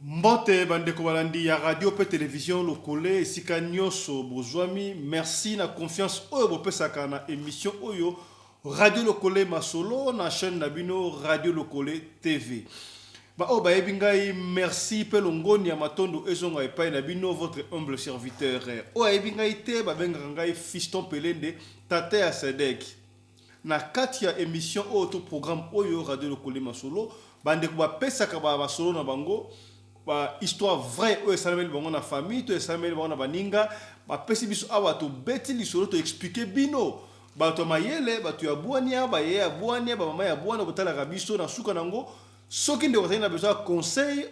Mbote ba ndeko balandi ya radio pe television lokole esika nioso bozwami merci na confiance oyo bopesaka na emission oyo radio lokole masolo na chaine na bino radio lokole TV ba oyo bayebi ngai merci pe longoni ya matondo ezonga epai na bino votre humble serviteur oyo ayebi ngai te babengaka ngai fiston pelende tata ya sedek Na kati ya emission oyo to programme oyo radio lokole masolo ba ndeko ba pesaka ba masolo na bango ba histoire vraie oyo esalameli bango na famille to esalameli bango na baninga ba pesi biso awa to beti lisolo to explique bino bato ya mayele bato ya buania baye ya buania ba mama ya buana botalaka biso na suka na ngo Soki ndeko azali na besoin ya conseil,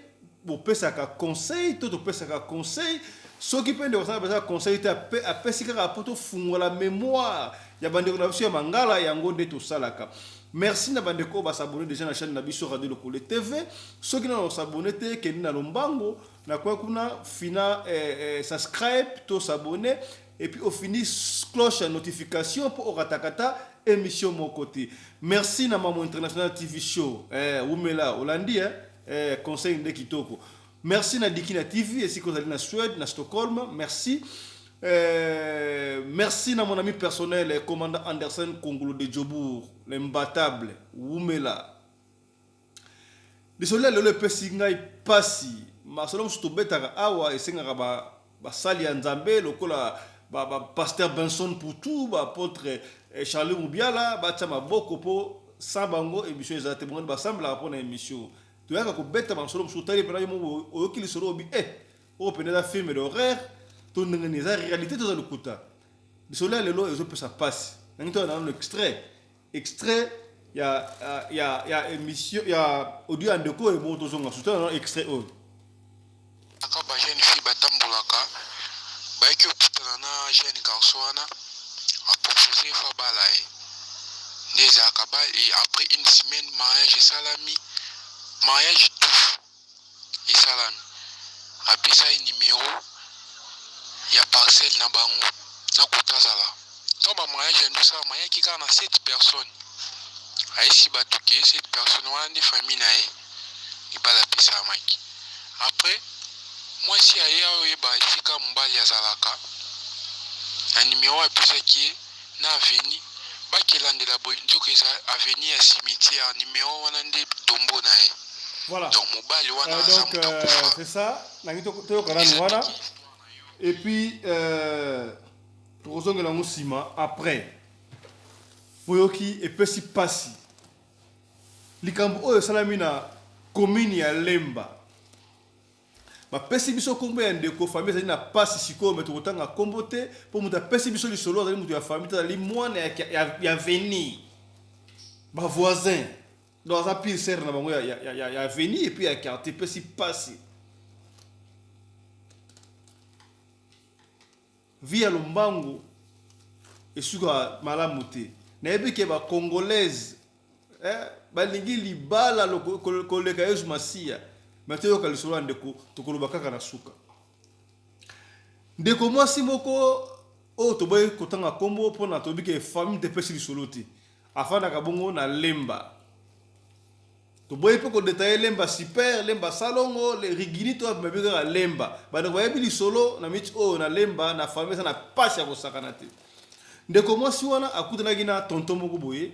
bopesaka conseil to topesaka conseil. Soki mpe ndeko azali na besoin ya conseil te, apesi kaka mpo tofungola memoire ya bandeko na biso ya Mangala, yango nde tosalaka. Merci na bandeko oyo basabone deja na chaîne na biso Radio Lokole TV. Soki nano osabone te, kende na lombango na coin kuna fina eh, eh, subscribe to s'abonner et puis ofini cloche ya notification po orataka ata emission moko te merci na mamu international tv show eh, wumela olandi eh, eh, conseil nde kitoko merci na dikina tv esika ozali na suède na stockholm merci Euh, merci na mon ami personnel, eh, commandant Anderson Kongolo de Djobourg, l'imbattable, Wumela, Lisolo ya lelo epesi ngai mpasi. Masolo mosusu tobetaka awa esengaka ba, basali ya Nzambe lokola ba, ba Pasteur Benson Putu, ba apotre eh, Charlie Mubiala batya maboko mpo sans bango emission eza te. Bongani basambelaka mpo na emission. Toyaka kobeta masolo mosusu tali mpena yo moko oyoki lisolo obi eh oyo mpena eza film d'horreur to ndenge nini eza realite to eza lokuta. Lisolo ya lelo ezopesa mpasi. Nangi toya na nano extrait Extrait ya ya ya emission ya audio ya ndeko oyo bongo tozonga susu tala na extrait oyo aka ba jeune fille batambolaka bayaki okutana na jeune garçon wana apropose fo abala ye nde ezalaka ba et après une semaine mariage esalami mariage touche esalami apesa ye numero ya parcelle na bango na kota azala ntango ba mariage yandi osalama yaki kaka na 7 personnes ayesi bato ke 7 personnes wana nde famille na ye libala epesamaki après mwasi aye aoyeba esika mobali azalaka na numero apesaki ye na avenue ba ke landela boye nzoka eza avenue ya cimetière numero wana nde tombeau na ye voilà donc mobali wana euh, aza moto euh, akufa c'est ça nangi toyoka nanu wana et puis euh, tokozongela yango nsima après boyoki epesi mpasi likambo oyo esalami na commune ya lemba Ba pesi biso kombo ya ndeko famille ezali na pasi sikoyo mais toko tanga kombo te po mutu apesi biso lisolo azali mutu ya famille te azali mwana ya ya avenir ba voisin donc aza pire serre na bango ya ya ya ya avenir et puis ya quartier pesi pasi Vie ya lombango esuka malamu te. Nayebi ke ba congolaise eh, balingi libala koleka Yesu Masiya. Mais toyoka lisolo ya ndeko, tokoloba kaka na suka. Ndeko mwasi moko oyo toboyi kotanga kombo mpona toyebi ke famille tepesi lisolo te, afandaka bongo na Lemba Toboyi pe ko detailler Lemba super, Lemba salongo, le rigini to babi kaka Lemba. Ba ndeko bayebi lisolo na minutes oyo na Lemba na famille eza na pasi ya kosakana te. Ndeko mwasi wana akutanaki na tonton moko boye.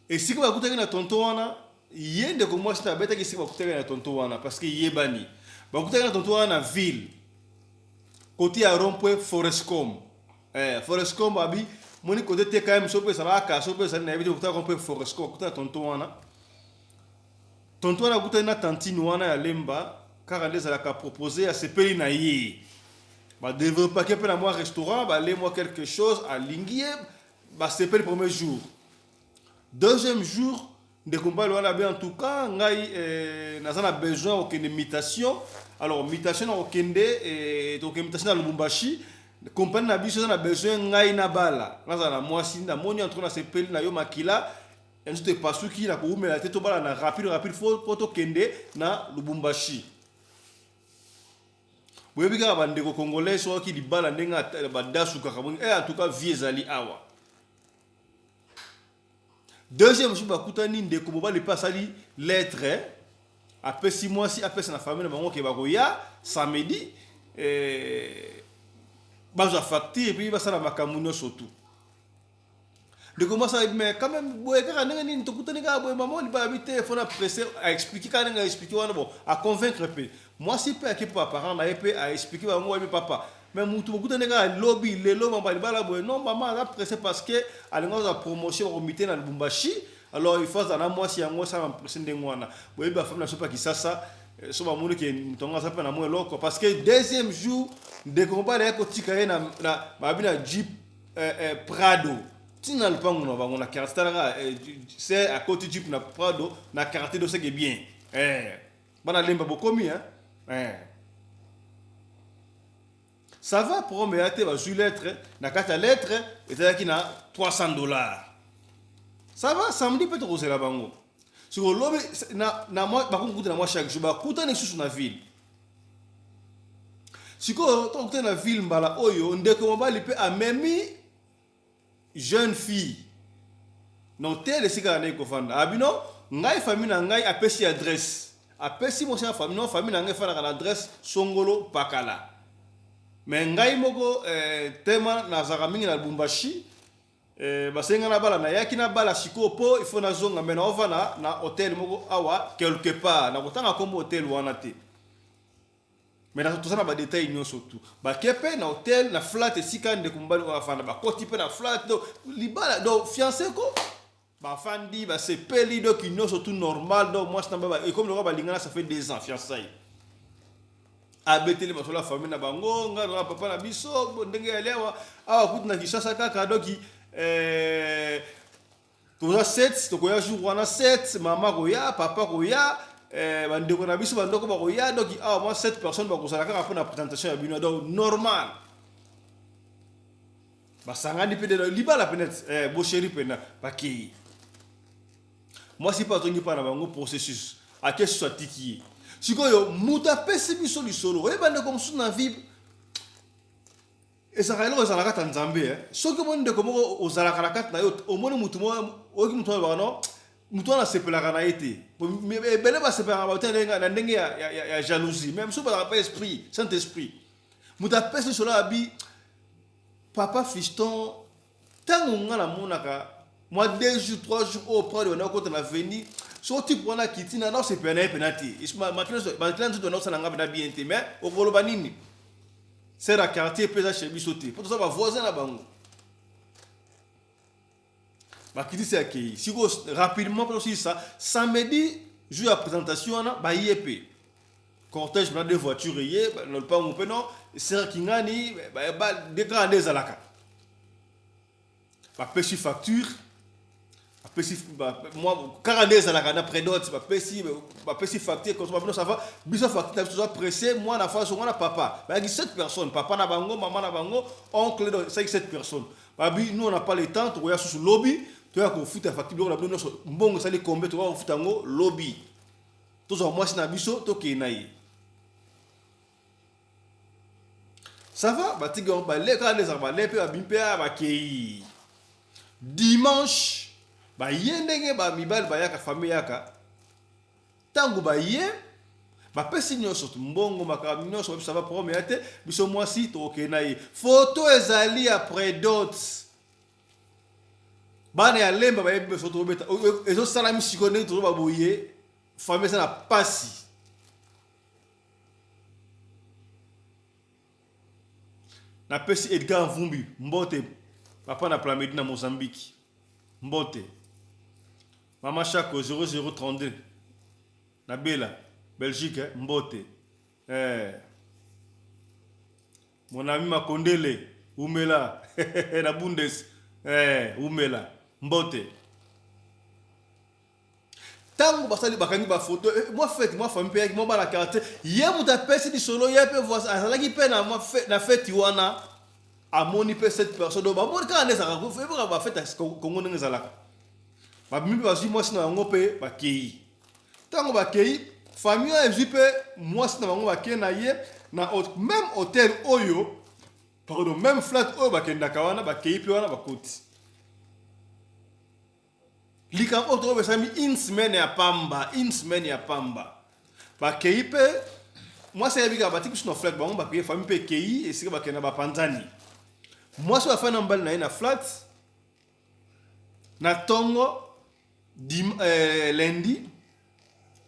Esika bakutaki na tonton wana, ye ndeko mwasi na betaki esika bakutaki na tonton wana parce que yebani. Bakutaki na tonton wana na ville. Kote ya rond-point Forescom. Eh, Foresco Mbabi, moni côté TKM sope salaka sope sali na yebite kuta ko pe Foresco kuta tonton wana. Tonton wana kuta na tantine wana ya Lemba kaka nde ezalaka propose ya sepeli na ye. Ba developpake pe na mwa restaurant, ba le mwa quelque chose alingi ye, ba sepeli premier jour. Deuxième jour, ndeko mobali wana be en tout cas ngai eh, naza na besoin okende mutation. Alors mutation na okende eh, tokende mutation na Lubumbashi. Compagnie na biso eza na besoin ngai na bala. Naza na mwasi na moni entre na sepeli na yo makila. Enzo te pasuki na koumela te tobala na rapide rapide fo po tokende na Lubumbashi. boyebi kaka bandeko congolais soki libala ndenge ata- badasukaka boni eh, en tout cas vie ezali awa deuxième mosusu bakutani ndeko mobali mpe asali lettre apesi mwasi apesa na famille na bango ke bakoya samedi eh, bazwa facture epuis basala makambo nyonso tu ndeko mwasi ayebi me quand même boye kaka ndenge nini tokutani kaka boye mama libala bi telefone apresse aexplike kaka ndenge aexplike wana bon aconvaincre mpe Mwasi pe ayaki pa parents na ye pe a explique bango wapi papa mais mutu bokutani kaka lobi lelo mapa libala boye non maman aza presse parce que alingi azwa promotion bako mite na lubumbashi alors il faut azala na mwasi yango esala ma presse ndenge wana boyebi ba famille na biso pa kisasa so ba moni ke mutu yango aza pe na mwa eloko parce que deuxième jour ndeko mobali ayaki kotika ye na na babi na jeep eh, eh, prado tina na lupangu na bango na quartier talaka eh, se akoti jeep na prado na quartier doseke bien eh bana lemba bokomi hein eh. ça va prom eya te bazwi lettre na kati ya lettre ezalaki na 300 dollars ça va samedi mpe tokozela bango siko lobi bakokuta na mwa chaque jour bakutani lisusu na ville sikoyo tokokutani na ville mbala oyo ndeko mobali mpe amemi jeune fille na hotel esika na ndenge kofanda abino ah, ngai famille na ngai apesi adresse apesi mosi ya famille no famille na ngai efandaka na adresse songolo pakala me ngai moko eh, tema nazalaka mingi na lubumbashi eh, basenga na bala nayaki na bala sikoyo mpo ifo nazonga me naovanda na hotel moko awa quelque part nakotanga nkombo hotel wana te Mais na toza na ba details nyoso tout. Ba ke pe na hotel na flat esika ndeko mobali oyo afanda ba koti pe na flat do libala do fiancé ko ba fandi ba sepeli do ki nyoso tout normal do moi na ba comme lokola balingana ça fait deux ans fiançailles. Abeteli masolo ya famille na bango nga na papa na biso ndenge ya lewa awa kutu na Kinshasa kaka doki eh toza sete tokoya jour wana sete mama akoya papa akoya eh, bandeko na biso bandoko bakoya donc awa mwa sete personne bakozala kaka mpo na présentation ya bino donc normal basangani mpe delo libala mpe neti eh, bosheri mpena bakei mwasi mpe azongi mpa na bango processus ake susu atiki ye sikoyo moto apesi biso lisolo oyeba ndeko mosusu na vibe Ezalaka eloko ezalaka kati ya Nzambe eh. Soki omoni ndeko moko ozalaka na kati na yo, omoni mutu moko, oyoki mutu alobaka no, mutu wana asepelaka na ye te. Ebele basepelaka bato ya na ndenge ya, ya, ya, ya jalousie. Mais mosusu bazalaka pa esprit, Saint-Esprit. Mutu apesi lisolo abi papa Fiston tango nga na monaka mwa deux jours trois jours oyo prod ebanda kokota na veni so type wana akiti na naosepela na ye mpena te makila nzoto naosala nga mpena bien te mais okoloba nini ser ya quartier mpe eza chez biso te mpo toza bavoisin na bango bakitisi akei sikoyo rapidement mpe tosilisa samedi jour ya présentation wana baye mpe cortège mpena de voiture eye na lupangu mpe no sera kingani dekaka nde ezalaka bapesi facture bapesi kaka nde ezalaka na predote bapesi bapesi facture kosoma bino sava biso facture na biso toza presse mwana faso mwana papa bayaki 7 personnes papa na bango mama na bango oncle do esaki 7 personnes babi nous on a pas le temps tokoya susu lobi toya kofuta facture biloko na bino nyonso mbongo esali kombe tokoya kofuta yango lobi tozwa mwasi na biso tokei na ye sava batiki yango bale kaka nde ezalaka bale mpe babimi mpe aya bakei dimanche baye ndenge bamibali bayaka fami yaka ntango baye bapesi nyonso mbongo makambo nyonso babisa baprome ya te biso mwasi tokokei na ye foto ezali ya predote bana ya lemba bayebi biso tobeta ezosalami sikoyo ndenge tozoba boye fami eza na pasi napesi edgar mvumbi mbote papa na plamedi na mozambique mbote mama shako 0032 na bela belgique eh, mbote eh. Mon ami Makondele wumela na Bundes eh, wumela mbote. Tango basali bakangi ba photo eh, mwa fete mwa famille pe yaki mwa bana quartier ye moto apesi lisolo ye pe voisin azalaki pe na mwa fe- na fete wana amoni pe cette personne oyo bamoni kaka nde ezalaka ko- ebaka ba fete ya Congo ndenge ezalaka babimi pe bazwi mwasi na yango pe bakei Tango bakei, famille wana ezwi mpe mwasi na bango bakei na ye na meme hotel oyo pardon, meme flat oyo bakendaka wana, bakei mpe wana bakoti. Likambo oyo tokobe esami une semaine ya pamba, une semaine ya pamba. Bakei mpe mwasi ayebi kaka batiki biso na flat bango bakei famille mpe ekei esika bakenda bapanzani. Mwasi oyo afandi na mobali na ye na flat na tongo dim, euh, lundi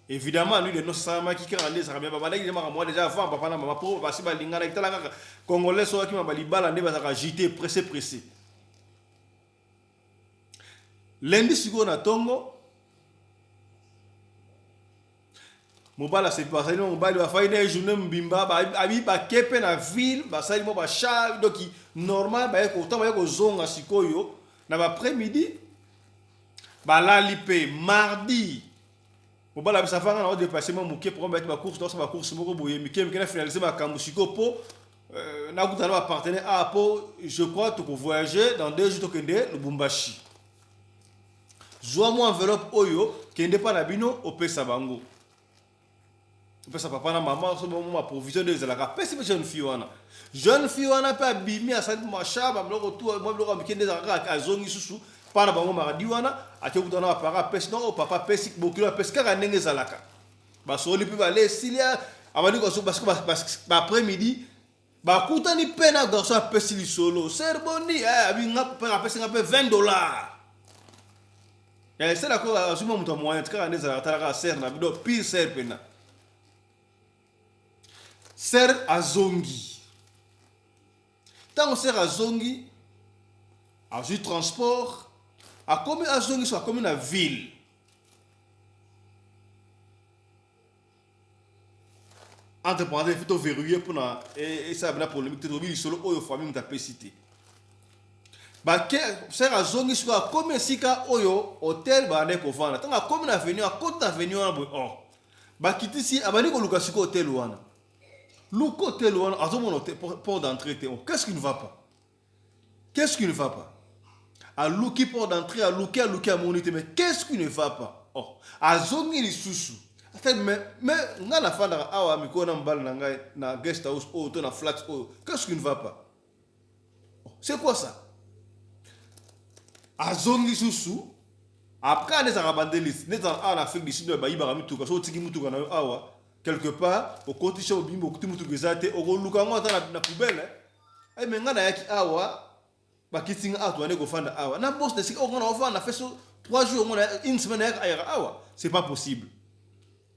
évidemment lui de nos salamaki kaka nde ezalaka bien babandaki nde makambo wana deja avant papa na mama mpo basi balinganaki tala kaka congolais soki akima balibala nde bazalaka agité pressé pressé lundi sikoyo na tongo mobali asepa asali na mobali bafai na ye journée mobimba abi bake mpe na ville basali mwa bachar doki normal baye kotan baye kozonga sikoyo na baaprès midi balali mpe mardi mobali abisa fanga na odepasse mwa moke mpo bayaki bacourse naosa bacourse moko boye mike mike na finalise makambo sikoyo mpo euh, nakuta na bapartenaire a ah, mpo je crois tokovoyage dans deux jours tokende lubumbashi Zwa mwa enveloppe oyo, kende epai na bino, opesa bango. Opesa papa na mama so bango ma provision nde ezalaka. Apesi mpe jeune fille wana. Jeune fille wana mpe abimi asali masha ba biloko tu mwa biloko ya mike nde ezalaka kaka azongi susu pa na bango maradi wana ake kuta na ba parents apesi nao papa apesi bokilo apesi kaka ndenge ezalaka. Basoli mpe bale esili abandi kosuka basiko ba après midi bakutani mpe na garçon apesi lisolo ser boni eh, apesi nga mpe 20 dollars eh, ser ako azwi mwa moto ya moyen tikaka nde ezalaka tala kaka ser na bido pire ser mpena ser azongi ntango ser azongi azwi transport akomi azongi so akomi na ville entre parenthèse faut toverrouille mpona esala bena polémique te tolobi lisolo oyo famille moto apesi te basere azongi sikoyo akomi esika oyo hotel balandai kovanda ntango akomi na avenue akota avenue wana boye or oh, bakitisi abandi koluka sikoyo hotel wana luka hotel wana azomona port d'entrée te oh, qu'est ce qui ne va pas Qu'est-ce qui ne va pas aluki port d'entrée aluki aluki amoni te mais qu'est-ce qui ne va pas oh azongi lisusu mais ngai nafandaka awa mikolo na mobali na ngai na guest house oyo oh, to na flat oyo oh, qu'est-ce qui ne va pas oh, c'est quoi ça azongi susu après ane ezalaka bandelisi nde ezalaka awa na afrique du sud bayibaka mituka so otiki motuka na yo awa quelque part okotisi obimbi okuti motuka eza te okoluka yango ata na poubele Eh, mais nga nayaki awa bakiti nga awa tobandi kofanda awa na bosi na esika oyo nga naofanda feso 3 jours ngo na- une semaine nayaka ayaka awa c'est pas possible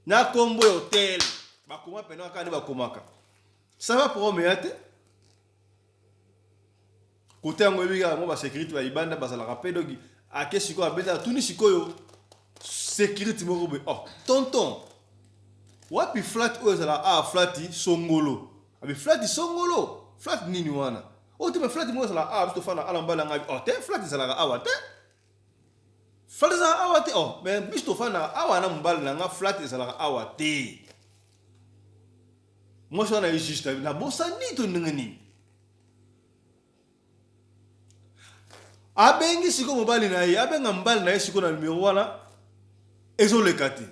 na kombo ya hotel bakoma mpena kaka nde bakomaka ça va problème ya te kote yango eyebi kaka yango basécurité ya libanda bazalaka mpe doki ake sikoyo abeta atuni sikoyo sécurité moko boye oh tonton wapi flat oyo ezalaka awa flati songolo Abi flat songolo, flat nini wana? Oh te flat moko ezala ah biso fana ala mbala ngabi. Oh te flat ezalaka awa te. Flat ezalaka awa te. Oh mais biso tofana awa na mbala na nga flat ezalaka awa te. Moi je suis juste na bosani to ndenge nini? abengi siko mobali na ye abenga mobali na ye siko na numero wana ezoleka te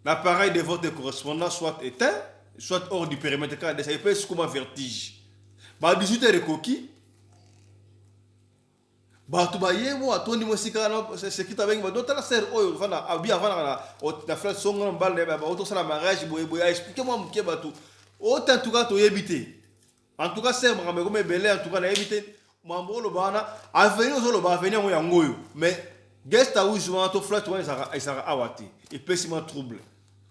l'appareil de votre correspondant soit éteint soit hors du périmètre kaka desa epe sikoma vertige ba 18 heures ekoki bato baye bo atondi mo esika wana sekita abengi bado tala ser oyo fana abi avanaka na na frere songo na mobali na ye baotosala mariage boye boye aexplike mwa moke bato otantuka toyebi te En tout cas sœur makambo ekoma ebele en tout cas nayebi te mambo oloba wana avenir ozoloba avenir yango yango oyo mais guest house wana to flat wana ezalaka ezalaka awa te epesi ma trouble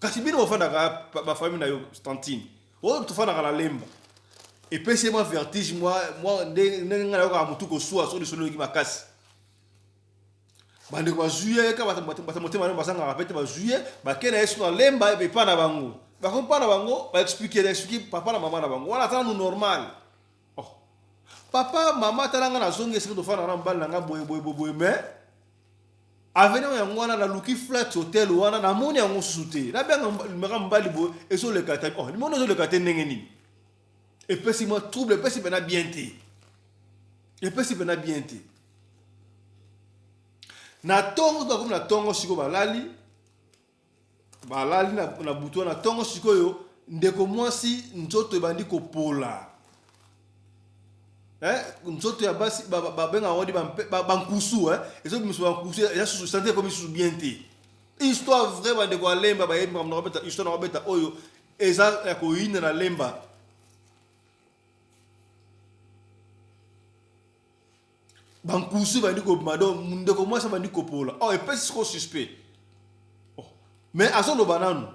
kasi bino bofandaka bafamille na yo tantine oyo oh, tofandaka na lemba epesi ye mwa vertige mwa ndenge ngai nayokaka motu kosua so lisolo eyoki makasi bandeko bazwi ye kaka bato motema leo bazangaka mpe te bazwi ye bake na ye soki alemba epa na bango bakomi mpa na bango baexplike na explike papa na mama na bango wana ata nanu normal oh. papa mama tala ngai nazongi esika tofandaka na mobali na ngai boye boye boye me aveni oyo yango wana naluki flat hotel wana namoni yango mosusu te nabianga limaka mobali boye ezoleka te oh, limoni ezoleka te ndenge nini epesi mwa trouble epesi mpena bien te epesi mpena bien te na ntongo bakomi na ntongo sikoyo balali balali na, na butu wana ntongo sikoyo ndeko mwasi nzoto ebandi kopola eh, nzoto ya basi babenga yango di bankusu eh, ezobimisa bankusu eza susu sante ekomi susu bien te histoire vrai bandeko alemba bayebi makambo na kobeta histoire na kobeta oyo eza ya koyina na lemba bankusu ebandi kobima do ndeko mwasi abandi kopola o oh, epesi siko suspect oh, mais azoloba nanu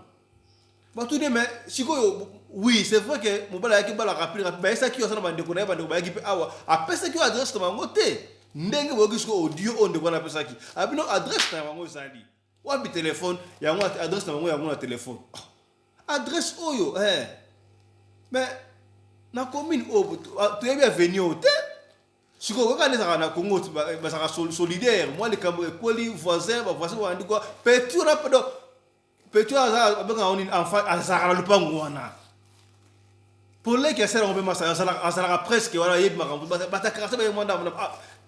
batuni mais sikoyo oui c'est vrai que mobali ayaki bala rapide rapide bayesaki yo aza na bandeko na ye bandeko bayaki mpe awa apesaki yo adresse na bango te ndenge boyoki siko audio oyo ndeko wana apesaki abino adresse na bango ezali wapi telefone yango adresse na bango yango na telefone ah, adresse oyo eh. me na commune oyo ah, toyebi aveni oyo te sikoyo kaka nde ezalaka na congo bazalaka solidaire mwa likambo ekweli voisin bavoisin balandi kwa petit wana pedo petit wana abengaka ngo nini enfant azalaka na lopango wana poleki ya sere yango mpe masa azalaka presque wana ayebi makambo batakarase baye mwa ndambo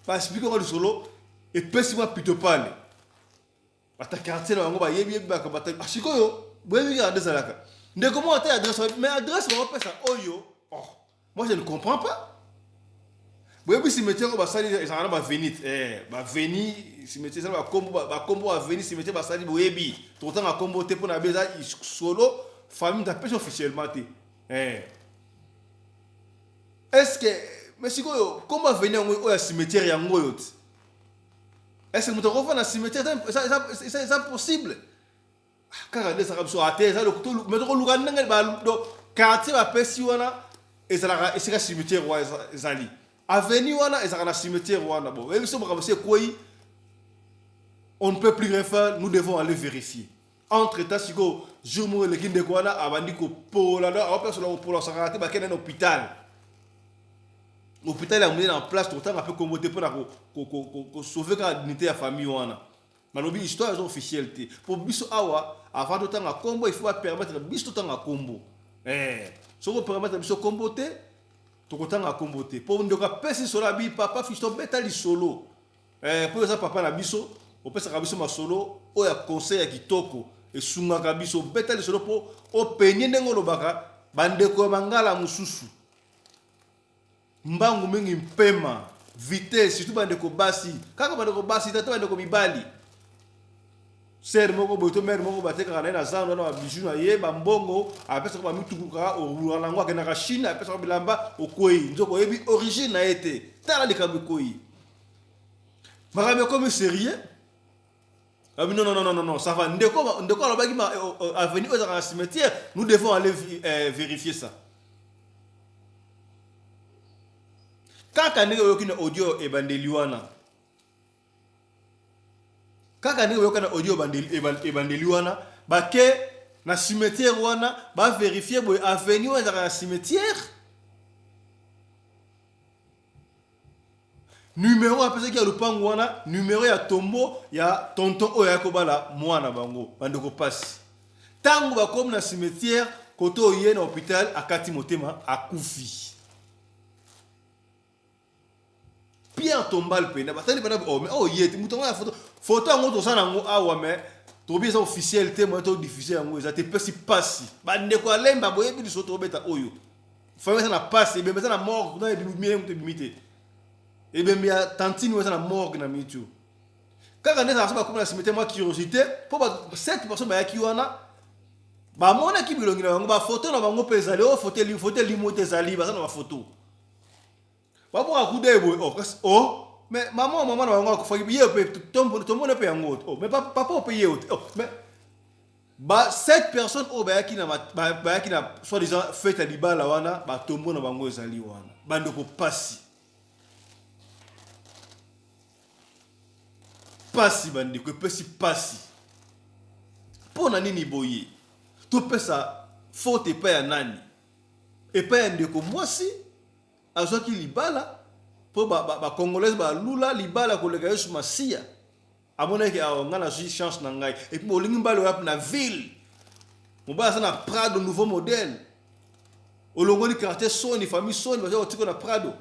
basipiki yango lisolo epesi mwa pitopale ata quartier na bango bayebi yebi baka bata ah, sikoyo boyebi kaka nde ezalaka ndeko moko ata adresse wapi mais adresse bakopesa oyo oh moi je ne comprends pas boyebi cimetière oyo basali ezalaka na bavenite eh, baveni cimetière ezala bakombo bakombo aveni cimetière basali boyebi tokotanga kombo te mpo na be eza solo famille tapesi officiellement te eh. est ce que mais sikoyo kombo aveni yango oyo ya cimetière yango oyo te ese moto akofa na cimetiere eza possible kaka nde ezalaka biso ate eza me tokoluka ndenge quartier bapesi wana ezalaka esika cimetiere wana ezali aveni wana ezalaka na cimetiere wana bo oyebi biso makambo si ekwei on ne peut plus rien faire nous devons aller vérifier entre temps sikoyo jour moko eleki ndeko wana abandi kopola donc awa place na kopola osakaka te bakende na hôpital hôpital ya monene en place tokotanga mpe kombo te mpo na kosauve kaka dignité ya famille wana nalobi histoire eza officielle te mpo biso awa avant totanga kombo il faut bapermettre biso totanga kombo eh, soki opermettre biso kombo te tokotanga kombo te mpo ndeko apesi solo abi papa fisto beta lisolo Eh, mpo oza papa na biso, opesaka biso masolo oyo ya conseil ya kitoko, esungaka biso. Beta lisolo mpo openye ndenge olobaka bandeko ya bangala mosusu. Mbangu mingi mpema, vitesse, surtout bandeko basi, kaka bandeko basi te, ata bandeko mibali. sere moko boye to mere moko batekaka na ye na zando wana babiju na ye bambongo apesaka bamitukuka orulaka na yango akendaka chine apesaka bilamba okwei nzoka oyebi origine na ye te tala likambo ekwei makambo ekomi serieux abi non non non non ça va ndeko ndeko alobaki ma euh, euh, avenue oyo ezalaka na cimetière nous devons aller euh, vérifier ça kaka ndenge oyoki na audio ebandeli wana kaka ndenge boyoka na audio ebandeli wana bake na cimetière wana baverifie boye avenue wana ezalaka na cimetière numero apesaki ya lopango wana numero ya tombo ya tonton oyo ayaki kobala mwana bango bandeko mpasi ntango bakomi na cimetière koto oye na hôpital akati motema akufi Pierre Tombal pena batali bana oh mais oh yete mutu ya photo photo yango toza nango awa mais tobi eza officiel te moyen to diffuser yango eza te pesi pasi ba ndeko ya lemba boyebi liso to beta oyo famille eza na pasi ebembe eza na morgue kuna ebimi mie mutu ebimi te ebembe ya tantine eza na morgue na mitu kaka nde ezalaka so bakoma na cimetière mwa curiosité mpo ba 7 personnes bayaki wana bamonaki bilongi na bango bafoto na bango mpe ezali oyo foto elimo te ezali baza na bafoto babwaka kuda ye boye oh, kasi o oh, me mama oyo mama na bango akufaki ye mpe tomona mpe yango te oh, me papa oyo mpe ye te oh, me ba sept personnes oyo bayaki na bayaki na soit disant fete ya libala wana batombo na bango ezali wana bandeko pasi pasi bandeko epesi pasi mpo na nini boye topesa faute epai ya nani epai ya ndeko mwasi azwaki libala mpo bacongolaise ba, ba balula libala koleka yesu masiya amonaki awa ngai nazwi chance na ngai epuis bolingi mbala oyapi na ville mobali aza na prado nouveau modèle olongoli quartier soni famille soni baza kotika na prado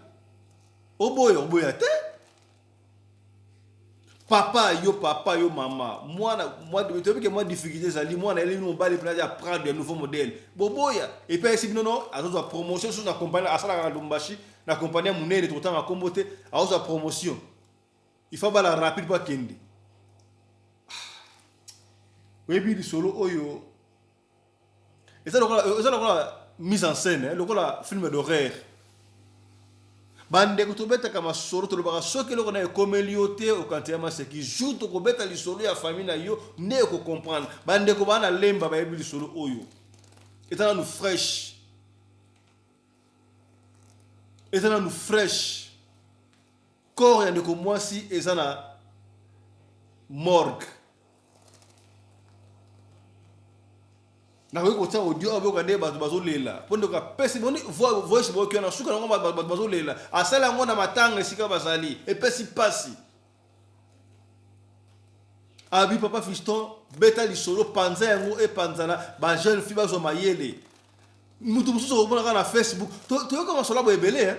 oboya oboya te papa yo papa yo mama mwana toyebi ke mwa difficulté ezali mwana eleli mobali mpena ya prendre ya nouveau modèle boboya epai ayesi bino no azozwa promotion susu na compagnie asalaka na lubumbashi na compagnie ya monene tokotanga nkombo te azozwa promotion il faut abala rapide mpo akende ah. oyebi lisolo oyo eza lokola eza lokola mise en scène eh, lokola film d'horreur bandeko tobetaka masolo tolobaka soki eloko na ekomeli yo te okanisa ya maseki jour tokobeta lisolo ya famille na yo nde okocomprendre bandeko baa na lemba bayebi lisolo oyo eza nanu fraîche eza nanu fraîche Corps ya ndeko mwasi eza na morgue. nakoki kotia audio oyo boyoka nde bato bazolela mpo ndeko apesi boni voice boyoki wana suka yango bato bazolela asali yango na matanga esika bazali epesi mpasi abi papa fiston beta lisolo panza yango epanzana bajeune fille bazwa mayele moto mosusu okomonaka na facebook toyoka masolo abo ebele eh.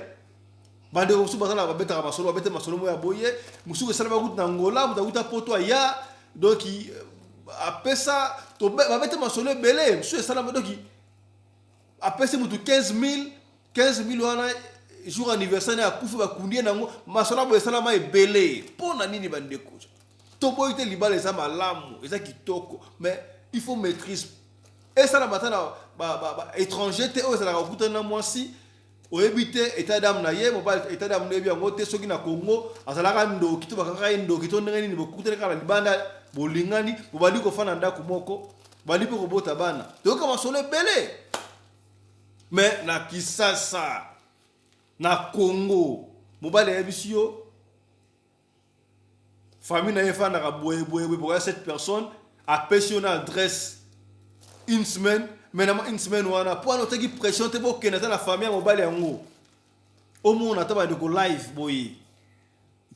bandeko mosusu baza na babetaka masolo babete masolo moko ya boye mosusu esala bakuta na ngola moto akuta poto aya donc euh, apesa babete masolo ebele mosusu esalama donc apesi moto 15 000 15 000 wana jour anniversaire na akufi bakundi ye nango masolo boye esalama ebele mpo na nini bandeko toboyi te libala eza malamu eza kitoko mais il faut maîtrise esala bata na ba, ba, ba étranger te oyo ezalaka kokutana na mwasi oyebi te état d'âme na ye mobali état d'âme oyebi yango te soki na Congo azalaka ndoki to bakangaka ye ndoki to ndenge nini bokutani kaka na libanda bolingani bobandi kofanda na ndako moko bandi mpe kobota bana toyoka masolo ebele me na kisasa na Congo mobali ayebisi yo famille na ye efandaka boyeboyeboye bokoya 7 personnes apesi yo na adresse une semaine maintenant une semaine wana mpo wana otaki pression te bokende ata na famille ya mobali yango omona ata bandeko live boye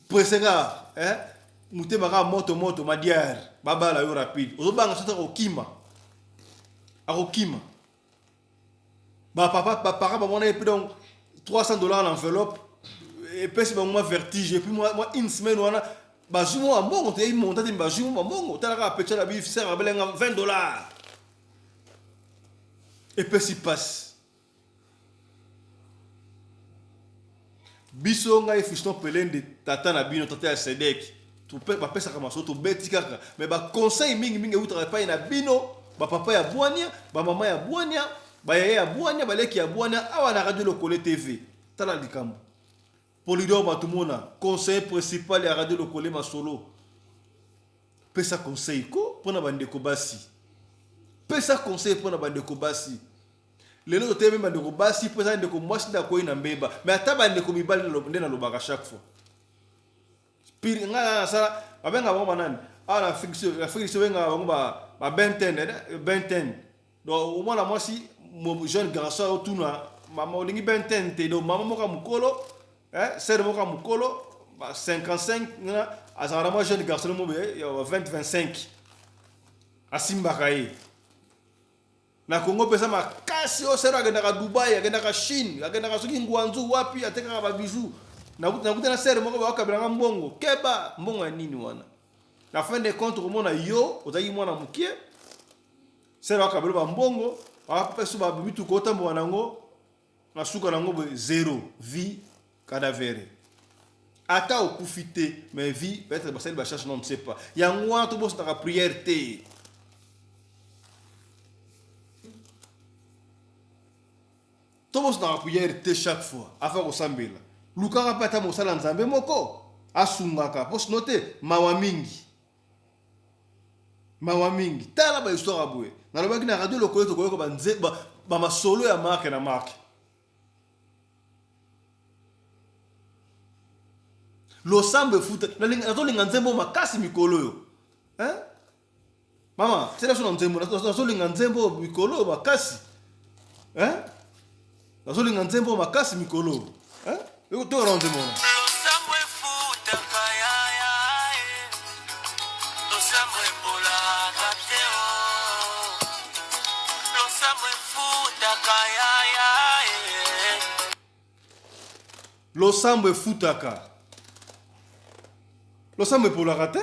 presse kaka eh? motema kaka moto moto madiare babala yo rapide ozobanga soki akokima akokima ba papa ba parents ba mona epi donc 300 dollars na enveloppe epesi bango mwa vertige epi mwa mwa une semaine wana bazwi mwa mbongo toyebi monta te bazwi mwa mbongo talaka apecha na biso sera belenga 20 dollars epesi pasi biso ngai fiston pelende tata na bino tata ya sedek bapesaka masolo tobeti kaka me baconseil mingi mingi eutaka epai na bino bapapa ya bwania bamama ya bwania bayaya ya bwania baleki ya bwania awa na radio lokole tv tala likambo polidor matumona conseil principal ya radio lokole masolo pesa conseil ko mpo na bandeko basi pesa conseil mpo na bandeko basi lelo totelemi bandeko basi mpo ezali ndeko mwasi nde akwei na mbeba me ata bandeko mibali nde nalobaka chaque fois pire ngai na nasala babengaka bango banani awa na afrique so bengaka bango babenten benten donc omwana mwasi jeune garçon aotuna mama olingi benten te donc mama moko ya mokolo sere moko ya mokolo 55 azalaka na mwa jeune garçon mobe ya 20 25 asimbaka ye Na congo peza makasi oyo sœur akendaka Dubaï akendaka chine akendaka soki nguanzu wapi atekaka ba bijoux nakuta na sœur moko bakabela nga mbongo keba mbongo ya nini wana na fin de compte komona yo ozalaki mwana mokie sœur akabela ba mbongo apesu ba mituka otambola nango Asuka nango boye zero vie cadavere. Ata okufi te mais vie peut-être basali ba charge non ne sais pas. Yango wana tobosaka prière te. tobosana priere te chaque fois afa kosambela lukaka mpe ata mosala nzambe moko asungaka mpo sino te mawa mingi mawa mingi tala ba histoire ya boye nalobaki na radio lokole tokoyoka bamasolo ba, ba ya marke na marke losambo efuta nazolinga nzembo makasi mikolo oyo hein? mama selaso na nzembo nazolinga nzembo mikolo oyo makasi hein? nazolinga nzembo makasi mikolo eh? toka na nzembo wana losambo efutaka losambo epolaka te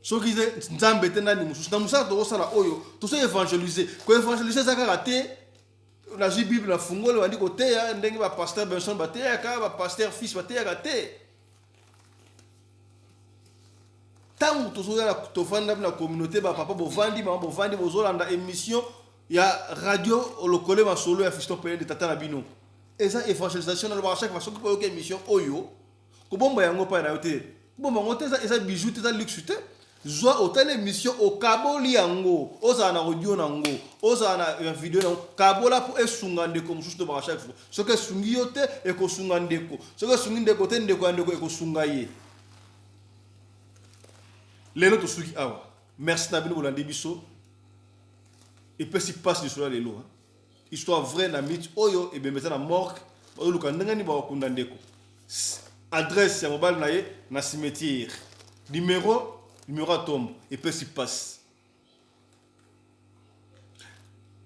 soki nzambe te nani mosusu na mosala tokosala oyo tozo évangélise koévangélise eza kaka te nazwi bible na fungoli bandi koteya ndenge bapaster benson bateyaka bapaster fils bateyaka te ntango tozoyala tofanda na communauté bapapa bovandi mama bovandi bozolanda émission ya radio lokole masolo ya fiston pelende tata na bino eza évangélisation nalobaka chaque fois soki boyoki émission oyo kobomba yango epai na yo te kobomba yango te eza, eza bijou te eza luxe te zwa otali émission okaboli yango ozala na audio na yango ozala na video na yango kabola mpo esunga ndeko mosusu tobaka chaque fois soki esungi yo te ekosunga ndeko soki esungi ndeko te ndeko ya ndeko ekosunga ye lelo tosuki awa merci na bino bolandi biso epesi mpasi lisolo ya lelo histoire vrai na mythe oyo ebembe eza na morgue bazoluka ndenge nini bakokunda ndeko adresse ya mobali na ye na cimetière numero numero ya tombo epesi mpasi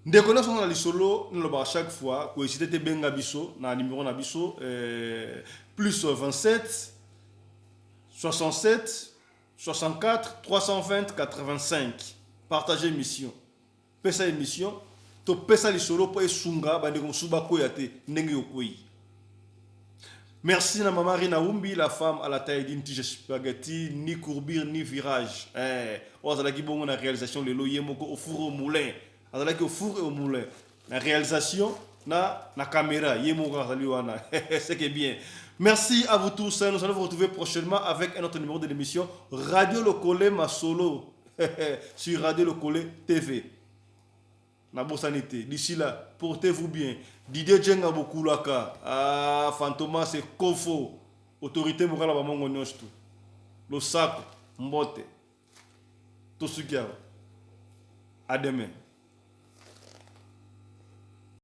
ndeko nyonso na lisolo nalobaka chaque fois koesite te benga biso na numero na biso eh, plus 27 67 64 320 85 partage mission Pesa emission to pesa lisolo po esunga bandeko mosusu bakweya te ndenge yo okweyi. Merci na maman Rina Wumbi, la femme à la taille d'une tige spaghetti, ni courbure ni virage. Eh, oyo azalaki bongo na réalisation lelo ye moko au four au moulin. Azalaki au four et au moulin. Na réalisation na na caméra ye moko azali wana. C'est que bien. Merci à vous tous. Nous allons vous retrouver prochainement avec un autre numéro de l'émission Radio Lokole Masolo. sur Radio Lokole TV. nabosani te d'ici là portez vous bien didier jenga bokulaka ah, fantoma se kofo autorité mokala bamongo nyonso tu losako mbote tosuki awa à demain